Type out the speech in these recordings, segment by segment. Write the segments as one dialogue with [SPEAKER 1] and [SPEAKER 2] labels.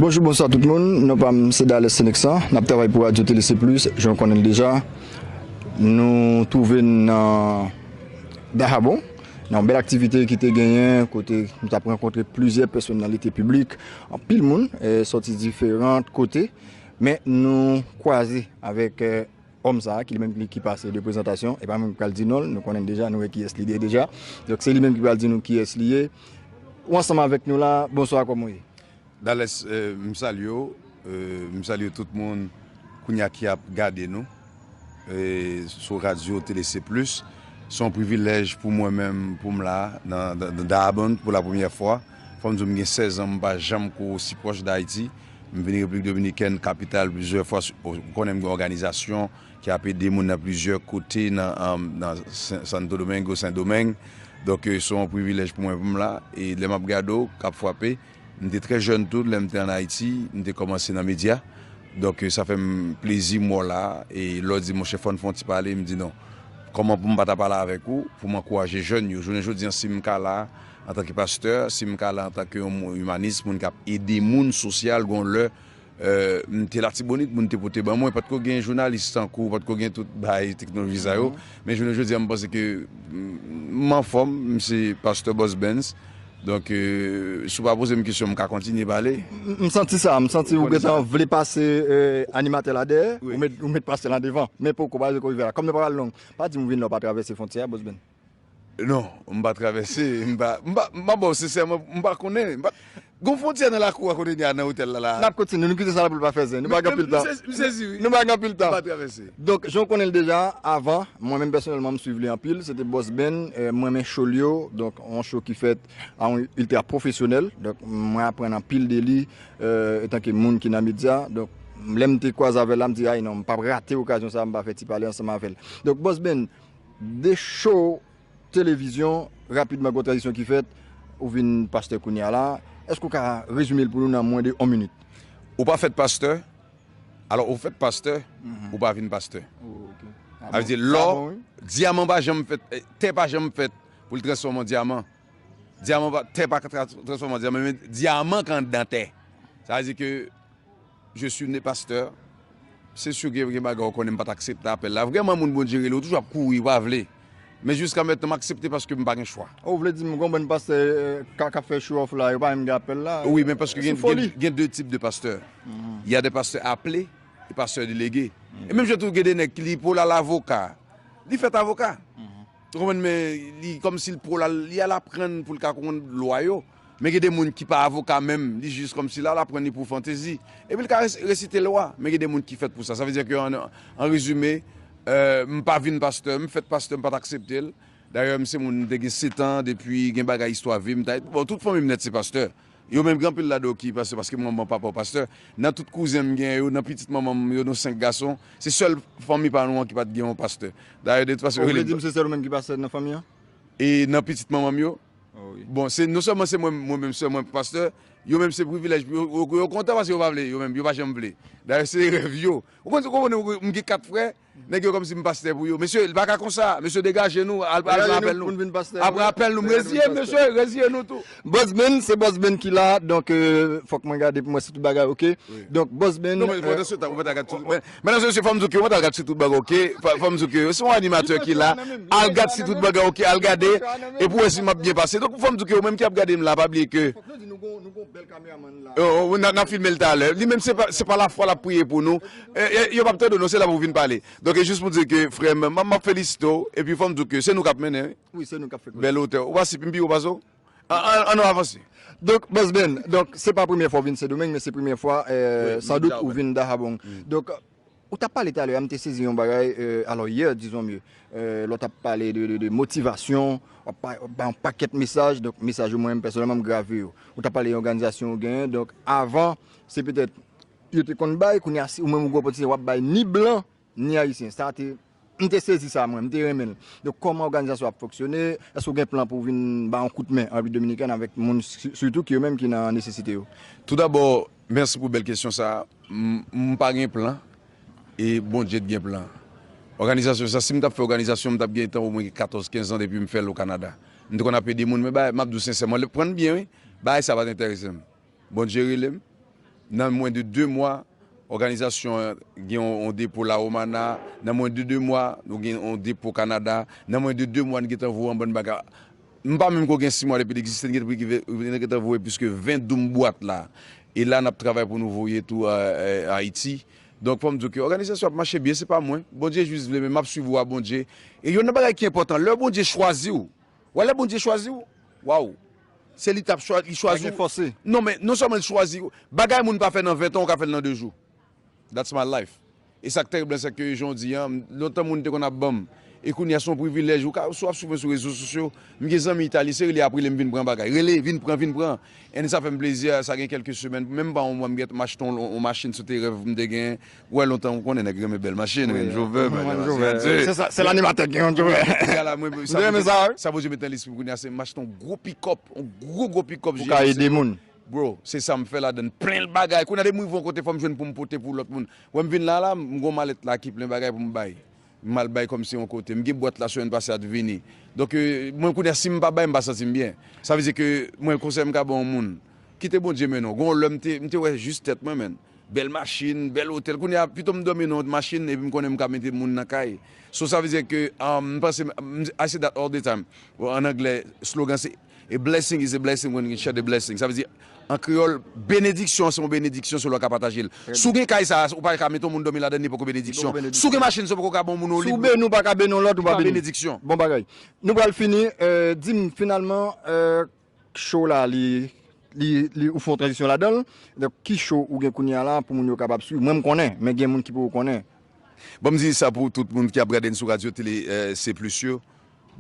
[SPEAKER 1] Bonjou bonswa tout moun, non pa m se Dalès Seneksan, n ap travay pou Radyo Tele Se Plis, jan w konnen l deja. Nou twouve n nan Dahabon, nan yon bèl aktivite ki te genyen, kote nou t ap rankontre plizyè pèsonalite piblik, anpil moun sòti diferan kote, men nou kwaze avèk òm sa a ki li menm ki pase de prezantasyon, e pa mwen ki pral di non l, nou konnen l deja, nou wè kiyès li ye deja, donk se li menm ki pral di nou kiyès li ye. Ou ansanm avèk nou la, bonswa kòman w ye? Dales
[SPEAKER 2] m salye w m salye tout moun kounya ki ap gade nou sou radyo TLC plus se yon privilèj pou mwen menm pou m la nan Dayabonde pou la premyè fwa fò m di w m gen 16 an m pa janm ko osi pwòch Dayiti m vini Repiblik Dominikèn kapital plizyè fwa ou konnen m gen òganizasyon ki ap ede moun nan plizyè kote nan Santo Domingo, Sendomeng. Donk, se yon privilèj pou mwen pou m la. E lè m ap gade w k ap fwape, m te trè jèn tou lè m te ann Ayiti, m te kòmanse nan medya. Donk, sa fè m plezi m wè w la a. E lè w di, monchè, fò n fè yon ti pale, m di non. Kòman pou m pa ta pale avèk ou pou m ankouraje jèn yo? Jounen jodi a, si m ka la antanke pastè, si m ka la antanke yon imanis, moun k ap ede moun, sosyal, gen yon lè, M te Latibonit, moun te pote ban mwen. Pa t ko gen jounalis tankou w, pa t ko gen tout bagay teknoloji sa yo. Men jounen jodi a m panse ke m anfòm, m se pastè Bòs Bens. Donk, si w pa poze m kesyon, m ka kontinye pale. M santi sa, m
[SPEAKER 1] santi ou gentan vle pase animatè la dèyè, ou met pastè lan devan. Men poko, bagay yo poko rive la. Kòm nou pa pral long, pa di m ou vin la, ou pa travèse fwontyè a, Bòs Bens? Non,
[SPEAKER 2] m pa travèse, m pa, m pa, m pa ba w sensèman, m pa konnen, m pa, gon fwontyè nan lakou a kote n ye a nan otèl la la a? N ap kontinye, nou kite sa la pou l
[SPEAKER 1] pa fè zen, nou pa gen anpil tan. M sezi wi. Nou pa gen anpil tan. M pa travèse. Donk, jan w konnen l deja, avan, mwen menm pèsonèlman m swiv li anpil, se te Boss Ben, m renmen show l yo, donk yon show ki fèt a yon iltra pwofesyonèl, donk mwen aprann anpil de li etanke moun ki nan medya, donk lè m te kwaze avè l la m di ay non, m p ap rate okazyon sa a m pa fè ti pale ansanm avè l. Donk Boss Ben, 2 show televizyon rapidman gwo tranzisyon ki fèt ou vin pastè kounya la èske ou ka rezime l pou nou nan mwen de 1 minit. Ou pa fèt
[SPEAKER 2] pastè alò ou fèt pastè ou pa vin pastè sa vle di lò dyaman pa janm fèt tè pa janm fèt pou l transfòme an dyaman dyaman pa tè pa ka transfòme an dyaman men dyaman ka andan tè sa vle di ke. Je suis né pasteur se sur gen bagay ou konnen m pat aksepte apèl la vrèman moun Bondye rele ou toujou ap kouri ou pa vle men jiska mètnan m aksepte paske m pa gen chwa. Ou vle di m gon bann
[SPEAKER 1] pastè kap fè show off la yo pa menm gen apèl la Wi men paske gen
[SPEAKER 2] gen 2 tip de pastè il ya de pastè aple e pastè delege e menm jan tou gen de nèg ki li pou lal avoka li fèt avoka ou konprann men li kòmsi l pou lal li al aprann pou l ka konprann lwa yo. Men gen de moun ki pa avoka menm, li jis kòmsi l al aprann li pou fantezi. Epi l ka resite lwa, men gen de moun ki fèt pou sa. Sa vle di ke an rezime, m pa vin pastè, m fèt pastè, m pa t aksepte l. Dayè m se moun, m te gen setan, depi gen bagay istwa vi m ta e. Bon, tout fanmi m nèt se pastè. Yo menm gen anpil ladan yo ki pastè paske manman papa yo pastè. Nan tout kouzen m gen yo, nan pitit manman m yo, nou senk gason, se sèl fanmi pa nou an ki pa t gen yon pastè. Dayè de tout fason yo rele m. Ou vle di m se sèl ou menm ki pastè
[SPEAKER 1] nan fanmi an? E nan
[SPEAKER 2] pitit manman m yo? Bon se non sèlman se mwen mwen menm sèl mwen pastè, yo menm se privilèj pou yo, yo kontan paske yo pa vle yo menm, yo pa janm vle. Dayè se rèv yo. Ou konn ou konprann ou, m gen 4 frè, nèg yo kòmsi m pastè pou yo. Mesye li pa ka konsa, mesye degaje nou, al pran apèl nou, al pran apèl nou, m reziye m mesye, reziye nou tou. Bòzmenn, se Bòzmenn
[SPEAKER 1] ki la, donk fòk mwen gade pou m wè si tout bagay ok, donk Bòzmenn. Non men pandan se tan ou pa ta
[SPEAKER 2] gad tout, men Medam se mesye fòm di w ke yo mèt al gad si tout bagay ok fòm di w ke yo se yon animatè ki la al gad si tout bagay ok al gade e pou wè si map byen pase donk fòm di w ke yo menm ki ap gade m la pa bliye ke nap filme l talè li menm se pa lafwa lap priye pou nou yo pap tande w non se la pou vin pale donk e jis pou di w ke frè m map felisite w epi fòm di w ke se nou kap mennen wi bèl
[SPEAKER 1] otè ou pa si pi m pi wo
[SPEAKER 2] pase w. An nou avanse. Donk Boss
[SPEAKER 1] Ben, donk se pa premye fwa ou vin Sendomeng men se premye fwa san dout ou vin Dahabong. Donk ou tap pale talè a m te sezi yon bagay alò yè dizon mye lè w tap pale de motivasyon w ap bay yon pakèt mesaj donk mesaj yo mwen menm pèsonèlman m grave yo. Ou tap pale yon òganizasyon ou genyen donk avan se petèt yo te konn bay kounye a se ou menm ou gen opòtinite w ap bay ni blan Ni ayisyen. Sa te, m te sezi sa mwen, m te renmen l. Donk kòman òganizasyon ap fonksyone, èske ou gen plan pou w vin ba yon kout men an Repiblik Dominikèn avèk moun sitou ki yo menm ki nan nesesite yo? Tou dabò,
[SPEAKER 2] mèsi pou bèl kesyon sa a. M pa gen plan e Bondye t gen plan. Òganizasyon sa, si m t ap fè òganizasyon, m t ap gen tan omwen gen katòz, kenz an depi m fè l o Kanada. M te konn ap ede moun men bagay, m ap di w sensèman, pran n byen wi, bagay sa pa t enterese m. Bondye rele m. Nan mwen de 2 mwa, òganizasyon an gen yon depo La Romana. Nan mwen de 2 mwa, nou gen yon depo Kanada. Nan mwen de 2 mwa, n gen tan voye yon bann bagay. M pa menm ko gen 6 mwa depi l egziste, n gen tan voye plis ke 20 doum bwat la. E la n ap travay pou nou voye tou Ayiti. Donk fò m di w ke òganizasyon ap mache byen. Se pa mwen. Bondye jis vle men m ap swiv wa Bondye. E youn nan bagay ki enpòtan, lè Bondye chwazi w, Wè lè Bondye chwazi w waw se li tap chwazi li chwazi w non men non sèlman li chwazi w bagay moun pa fè nan 20 tan ou ka fèl nan 2 jou that's my life e sak terib lan sèke jan w di an lontan moun te konn ap banm e kounya son privilèj ou ka sou ap swiv mwen sou rezo sosyo m gen zanmi Italie se rele ap rele m vin pran bagay rele vin pran vin pran and sa fèm plezi sa gen kèlke semèn menm pa yon mwa m gèt m achte yon machin se te rèv m te gen. Wè lontan ou konnen nèg renmen bèl machin, Range Rover, bèl machin an Dieu. Se sa,
[SPEAKER 1] sèl animatè ki gen Range Rover. Kounye a la mwen, sa Bondye,
[SPEAKER 2] sa Bondye met nan lespri m kounye a se m achte yon gwo pickup, yon gwo gwo pickup GMC yo. Pou ka ede moun.
[SPEAKER 1] Bro, se sa m
[SPEAKER 2] fè ladan l, plen l bagay. Kounye a depi m rive yon kote fò m jwenn pou m pote pou lòt moun. Wè m vin la a la, m gen yon malèt la ki plen bagay pou m bay. M al bay kòmsi yon kote. M gen bwat la semèn pase a t vini. Donk mwen kounye a si m pa bay m pa santi m byen. Sa vle di ke mwen konsèy m ka ban yon moun. Kite Bondye mennen w. Gen yon lè m te m te wè jis tèt mwen menn. Bèl machin, bèl otèl. Kounye a pito m dòmi nan yon machin epi m konnen m ka mete moun nan kay. So sa vle di ke m panse m I say that all the time, an anglè slogan se. A blessing is a blessing when you can share the blessing. Sa vle di, an kreyòl, benediksyon an se yon benediksyon si w lè w ka pataje l. Si w gen kay sa a, ou pa ka mete yon moun dòmi ladan l, li poko benediksyon. Si w gen machin sa a, ou poko ka ba yon moun yon lib. Si w beni, ou pa ka beni yon
[SPEAKER 1] lòt, ou pa beni. Bon bagay.
[SPEAKER 2] Nou
[SPEAKER 1] pral fini. Di m, finalman, show la li, li, ou fè yon tranzisyon ladan l. Donk, ki show ou gen kounye a la pou moun yo kapab suiv? Mwen m konnen, men gen moun ki poko konnen. Ban m di
[SPEAKER 2] sa pou tout moun ki ap gade n sou radyo tele, C plus yo.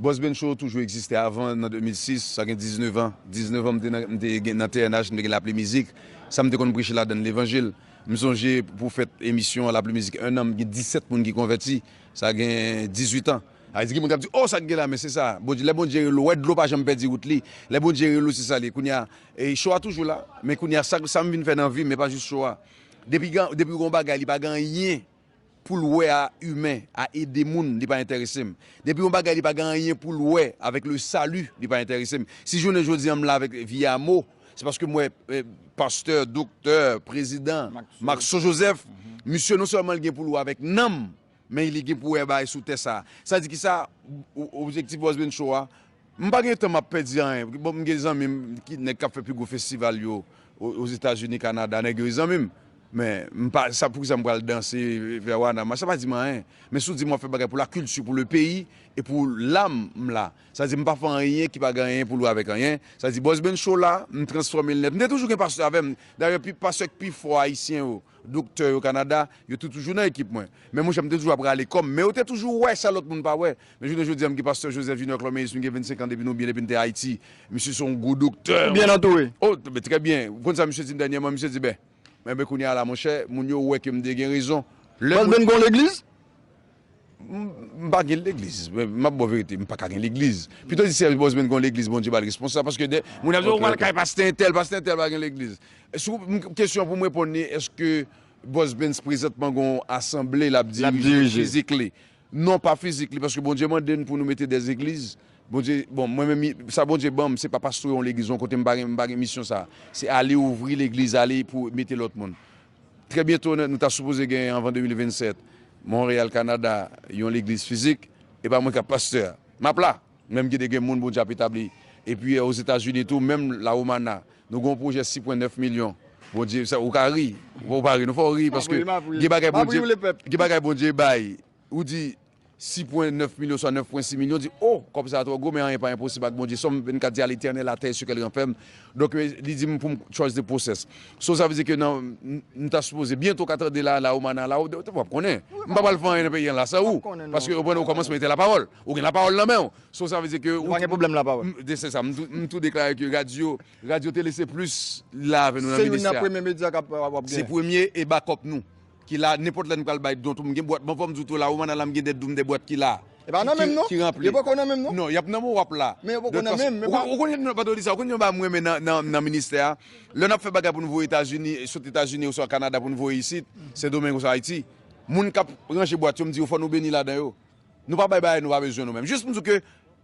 [SPEAKER 2] Boss Ben Show toujou egziste avan nan 2006, sa gen 19 an. 19 an m te nan m te gen nan TNH, m te gen Lapli Mizik. Sa m te konn preche ladan l levanjil. M sonje pou fèt emisyon Lapli Mizik 1 an m gen 17 moun ki konvèti, sa gen 18 an. A di gen moun k ap di oh sa k gen la men se sa Bondye lè Bondye rele ou wè dlo pa janm pèdi wout li lè Bondye rele ou se sa l ye kounye a show a toujou la men kounye a sa m vin fè nan vi m e pa jis show a depi gen depi w gen yon bagay li pa gen anyen poul wè a imen, a ede moun li pa entèresem. Depi yon bagay li pa gen anyen poul wè avèk le salut li pa entèresem. Si jounen jodi an m la avèk vye amo se paske m wè pastè, doktè, prezidan, Maxo Joseph misye non sèlman li gen poul wè avèk nanm men li gen pou wè bagay sou tè sa. Sa di kisa objektif Bòs Bencho a M pa gen tan m ap pèdi anyen. Bon m gen zanmi m ki nèg k ap fè pi gwo festival yo Ozetazini, Kanada, nèg yo e zanmi m. Men m pa sa pou ki sa m pral danse vè Wana Mach sa pa di m anyen. Men si w di m w ap fè bagay pou lakilti, pou lepeyi e pou lam, m la. Sa di m pa fè anyen ki pa gen anyen pou l wè avèk anyen. Sa di Bòs Ben Show la, m transfòme l nèt. M te toujou gen pastè avè m. Dayè pi pastè k pi fò ayisyen yo, doktè yo Kanada, yo te toujou nan ekip mwen. Men monchè m te toujou ap rale kò m. Men yo te toujou wè sa lòt moun pa wè. Men jounen jodi a m gen pastè Joseph Junior Cloméus m gen 25 an depi nou byen depi n te Ayiti. Misye se yon gwo doktè. Ou byen antoure? O,
[SPEAKER 1] m trè byen.
[SPEAKER 2] Ou konn sa misye di m dènyèman? Misye di, Ben, men ben kounye a la monchè, moun yo wè ke m te gen rezon. Lè moun. Baz Ben gen yon
[SPEAKER 1] legliz?
[SPEAKER 2] M pa gen legliz. M ap ba w verite, m pa ka gen legliz. Pito di sè Baz Ben gen yon legliz Bondye ba l responsab paske de moun ap di w pral kay pastè entèl, pastè entèl pa gen legliz. Si w, kesyon an pou m reponn li, èske Baz Ben prezantman gen yon asanble l ap dirije? L ap dirije. Physically. Non pa fizik li paske Bondye mande n pou nou mete des egliz Bondye bon mwen menm sa Bondye ban m se pa pastwe yon legliz yon kote m pa gen m pa gen misyon sa se ale ouvri legliz ale pou mete lòt moun trè byento nou ta sipoze gen anvan 2027 Montréal Canada yon legliz fizik e pa mwen k ap pastè a m ap la. Menm ki te gen moun Bondye ap etabli. Epi Ozetazini tou, menm La Romana, nou gen yon pwojè 6 pwen 9 milyon. Bondye, sa, ou ka ri, fò ou pa ri non, fò ou ri paske gen bagay Bondye, gen bagay Bondye bay. Ou di 6 pwen 9 milyon oswa 9 pwen 6 milyon, ou di, o! Kòb sa a twò gwo, men anyen pa enposib ak Bondye. Sòm 24 di, A Letènèl atè e sou kè l ranfèm. Donk, li di m pou m trust the process. So, sa vle di ke nan, m ta sipoze, byento w ka tande la, La Romana la, w ap konnen. M pa pral fè anyen nan peyi an la san ou, paske, ou konprann, okòmansman etè lapawòl. Ou gen lapawòl nan men w. So sa vle di ke. Nou pa gen pwoblèm lapawòl.
[SPEAKER 1] Se sa. M tou
[SPEAKER 2] deklare ke radyo, radyo tele se plis la avè nou nan minis la. Se youn nan premye medya k
[SPEAKER 1] ap gen. Se premye e
[SPEAKER 2] bakòp nou. Ki la nenpòt lè nou pral bay don tou. M gen bwat mwen fò m di w tou la ou Manal la m gen 2 doum 2 bwat ki la. E pa nan menm non. Ki
[SPEAKER 1] ranpli. Yo poko nan menm non. Non y ap nan menm w ap la.
[SPEAKER 2] Men yo poko nan menm.
[SPEAKER 1] Ou konnen non pa t ou di sa.
[SPEAKER 2] Ou konnen yon bagay m renmen nan ministè a. Lè n ap fè bagay pou nou voye Etazini, sot Etazini oswa Kanada pou nou voye isit, Sendomeng oswa Ayiti, moun k ap ranje bwat yo m di yo fò nou beni ladan yo. Nou pa bay bagay nou pa bezwen nou menm. Jis m di w ke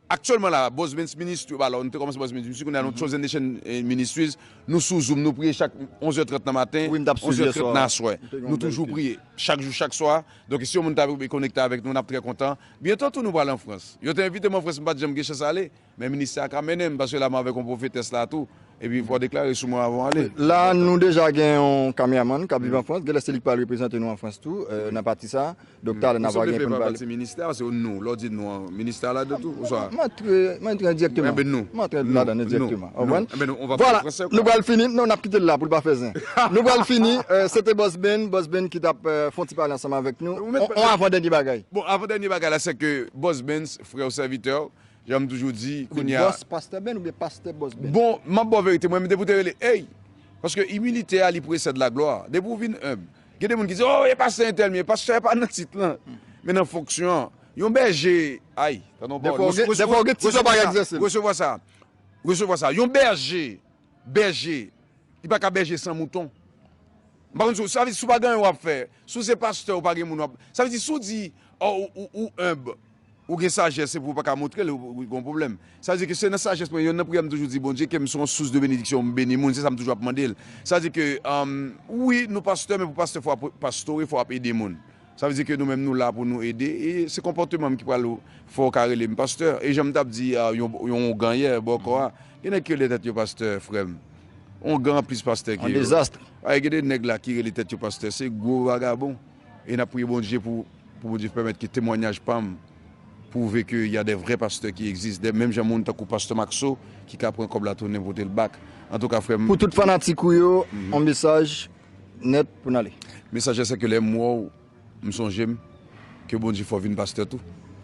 [SPEAKER 2] aktyèlman la Bosmans Ministry alò nou te kòmanse Bosmans Ministry kounye a nou Chosen Nation Ministries nou sou zoom nou priye chak 11 è 30 nan maten 11 è 30 nan
[SPEAKER 1] aswè
[SPEAKER 2] nou toujou priye chak jou chak swa donk si yon moun ta vle konekte avèk nou n ap trè kontan byento tou nou pral an Frans yo te envite m an Frans m pa t janm gen chans ale Men ministè a ka mennen m paske la m avèk yon pwofetès la tou epi fò w deklare sou mwen avan w ale. La a nou deja
[SPEAKER 1] gen yon kamèamann k ap viv an Frans, genlè se li k pral reprezante nou an Frans tou nan pati sa a. Donk talè n ap va gen pou n pale. Souple menm pa pati ministè a, se yon nou.
[SPEAKER 2] Lè w di nou an, ministè a ladan tou oswa? M antre, m antre
[SPEAKER 1] endiyèkteman. Enben nou. M antre ladan
[SPEAKER 2] endiyèkteman.
[SPEAKER 1] Nou. Nou. Enben nou, on va pale
[SPEAKER 2] fransè ou pa? Nou pral fini,
[SPEAKER 1] non n ap kite l la pou l pa fè zen. Nou pral fini, se te Boss Ben, Boss Ben ki t ap fè yon ti pale ansanm avèk nou. On avandènye bagay. Bon, avandènye bagay la
[SPEAKER 2] sèke Boss Ben, frè w, sèvitè w, Jan m toujou di kounye a. Boss Pasteur Ben oubyen Pasteur
[SPEAKER 1] Boss Ben? Bon, m ap ba w verite mwen
[SPEAKER 2] menm depi w te rele Hey! Paske imilite a li presèd laglwa. Depi w vin enb. Gen de moun ki di oh e pastè entèl m ye. Pastè pa nan tit lan, men nan fonksyon an. Yon bèje, ay! Tande yon pawòl. Dèfwa w gen tit lan w pa egzèse l. Resevwa sa. Resevwa sa. Yon bèje bèje, li pa ka bèje san mouton. M pa konn si w, sa vle di si w pa gen anyen w ap fè, si w se pastè ou pa gen moun w ap, sa vle di si w di ou enb, ou gen sajès epi ou pa ka montre l, ou gen yon pwoblèm. Sa vle di ke se nan sajès mwen, yonn nan priyè m toujou di Bondye ke m se yon sous de benediksyon, m beni moun, se sa m toujou ap mande l. Sa vle di ke wi nou pastè men pou pastè fò w ap pastore, fò w ap ede moun. Sa vle di ke nou menm nou la pou nou ede e se konpòteman m ki pral fè w ka rele m pastè. E jan m t ap di yon ougan yè bò kò a, gen nèg ki rele tèt yo pastè frè m. Ougan plis pastè ke yo. Paske
[SPEAKER 1] gen de nèg la
[SPEAKER 2] ki rele tèt yo pastè se gwo vagabon. E n ap priye Bondye pou Bondye pèmèt ke temwanyaj pa m pwouve ke y a de vrè pastè ki egzis. De menm jan moun tankou pastè Maxo ki ka pran kòb la tounen pote l bak. Antouka frè m. Pou tout fanatik ou yo,
[SPEAKER 1] yon mesaj Net pou n ale. Messager sèke lèm
[SPEAKER 2] wèw m sonjem ke bondye fè w vin pastè tou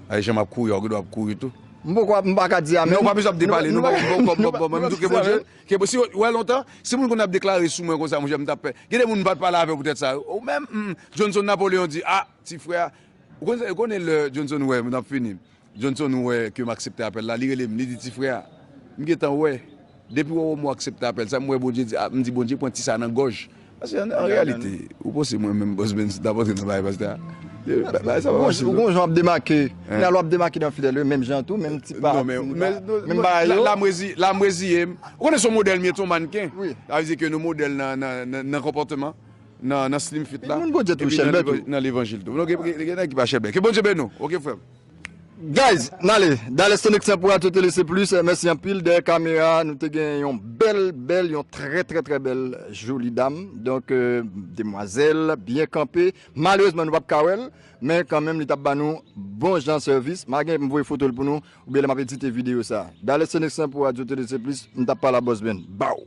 [SPEAKER 2] ay janm ap kouri a ou gen dwa ap kouri tou. M poko m paka di
[SPEAKER 1] amen. Non pa bezwen ap depale non
[SPEAKER 2] banm mwen tou ke bondye ke si ou wè lontan si moun konn ap deklare sou mwen konsa monchè m tap pè gen de moun m pat pale avèw poutèt sa ou menm Johnson Napoléon di ah ti frè a ou konnen lè Johnson wè m nap fini. Johnson wè ke m aksepte apèl la, li rele m, li di, Ti frè, m gentan wè, depi wè wèm ou aksepte apèl sa, m wè Bondye di, m di Bondye pran ti sa nan gòj. Paske an reyalite, ou panse mwen menm Boss Benz t ap antre nan bagay pastè a? Bagay sa pa fasil
[SPEAKER 1] non. Ou gon jan w ap demake, men alò w ap demake nan fidèl yo menm jan tou, menm ti pa, menm
[SPEAKER 2] bagay yo. La m reziye m. Ou konnen se yon modèl m ye tou, mannken. Sa vle di ke nou modèl nan konpòteman, nan slim fit la, epi nan levanjil tou. Gen nèg ki pa chèlbè. Ke Bondye beni w, oke frè m. Guys
[SPEAKER 1] nale dale sonexan pou radio tele se plus mèsi anpil dèyè kamera nou te gen yon bèl bèl yon trè trè trè bèl joli dam donk demwazèl byen kanpe malerezman nou pap ka wèl men kanmenm li tap ba nou bon jan sèvis ma gen pou m voye fotol pou nou oubyen lè map edite video sa dale sonexan pou radio tele se plus m tap pale a Boss Ben baww.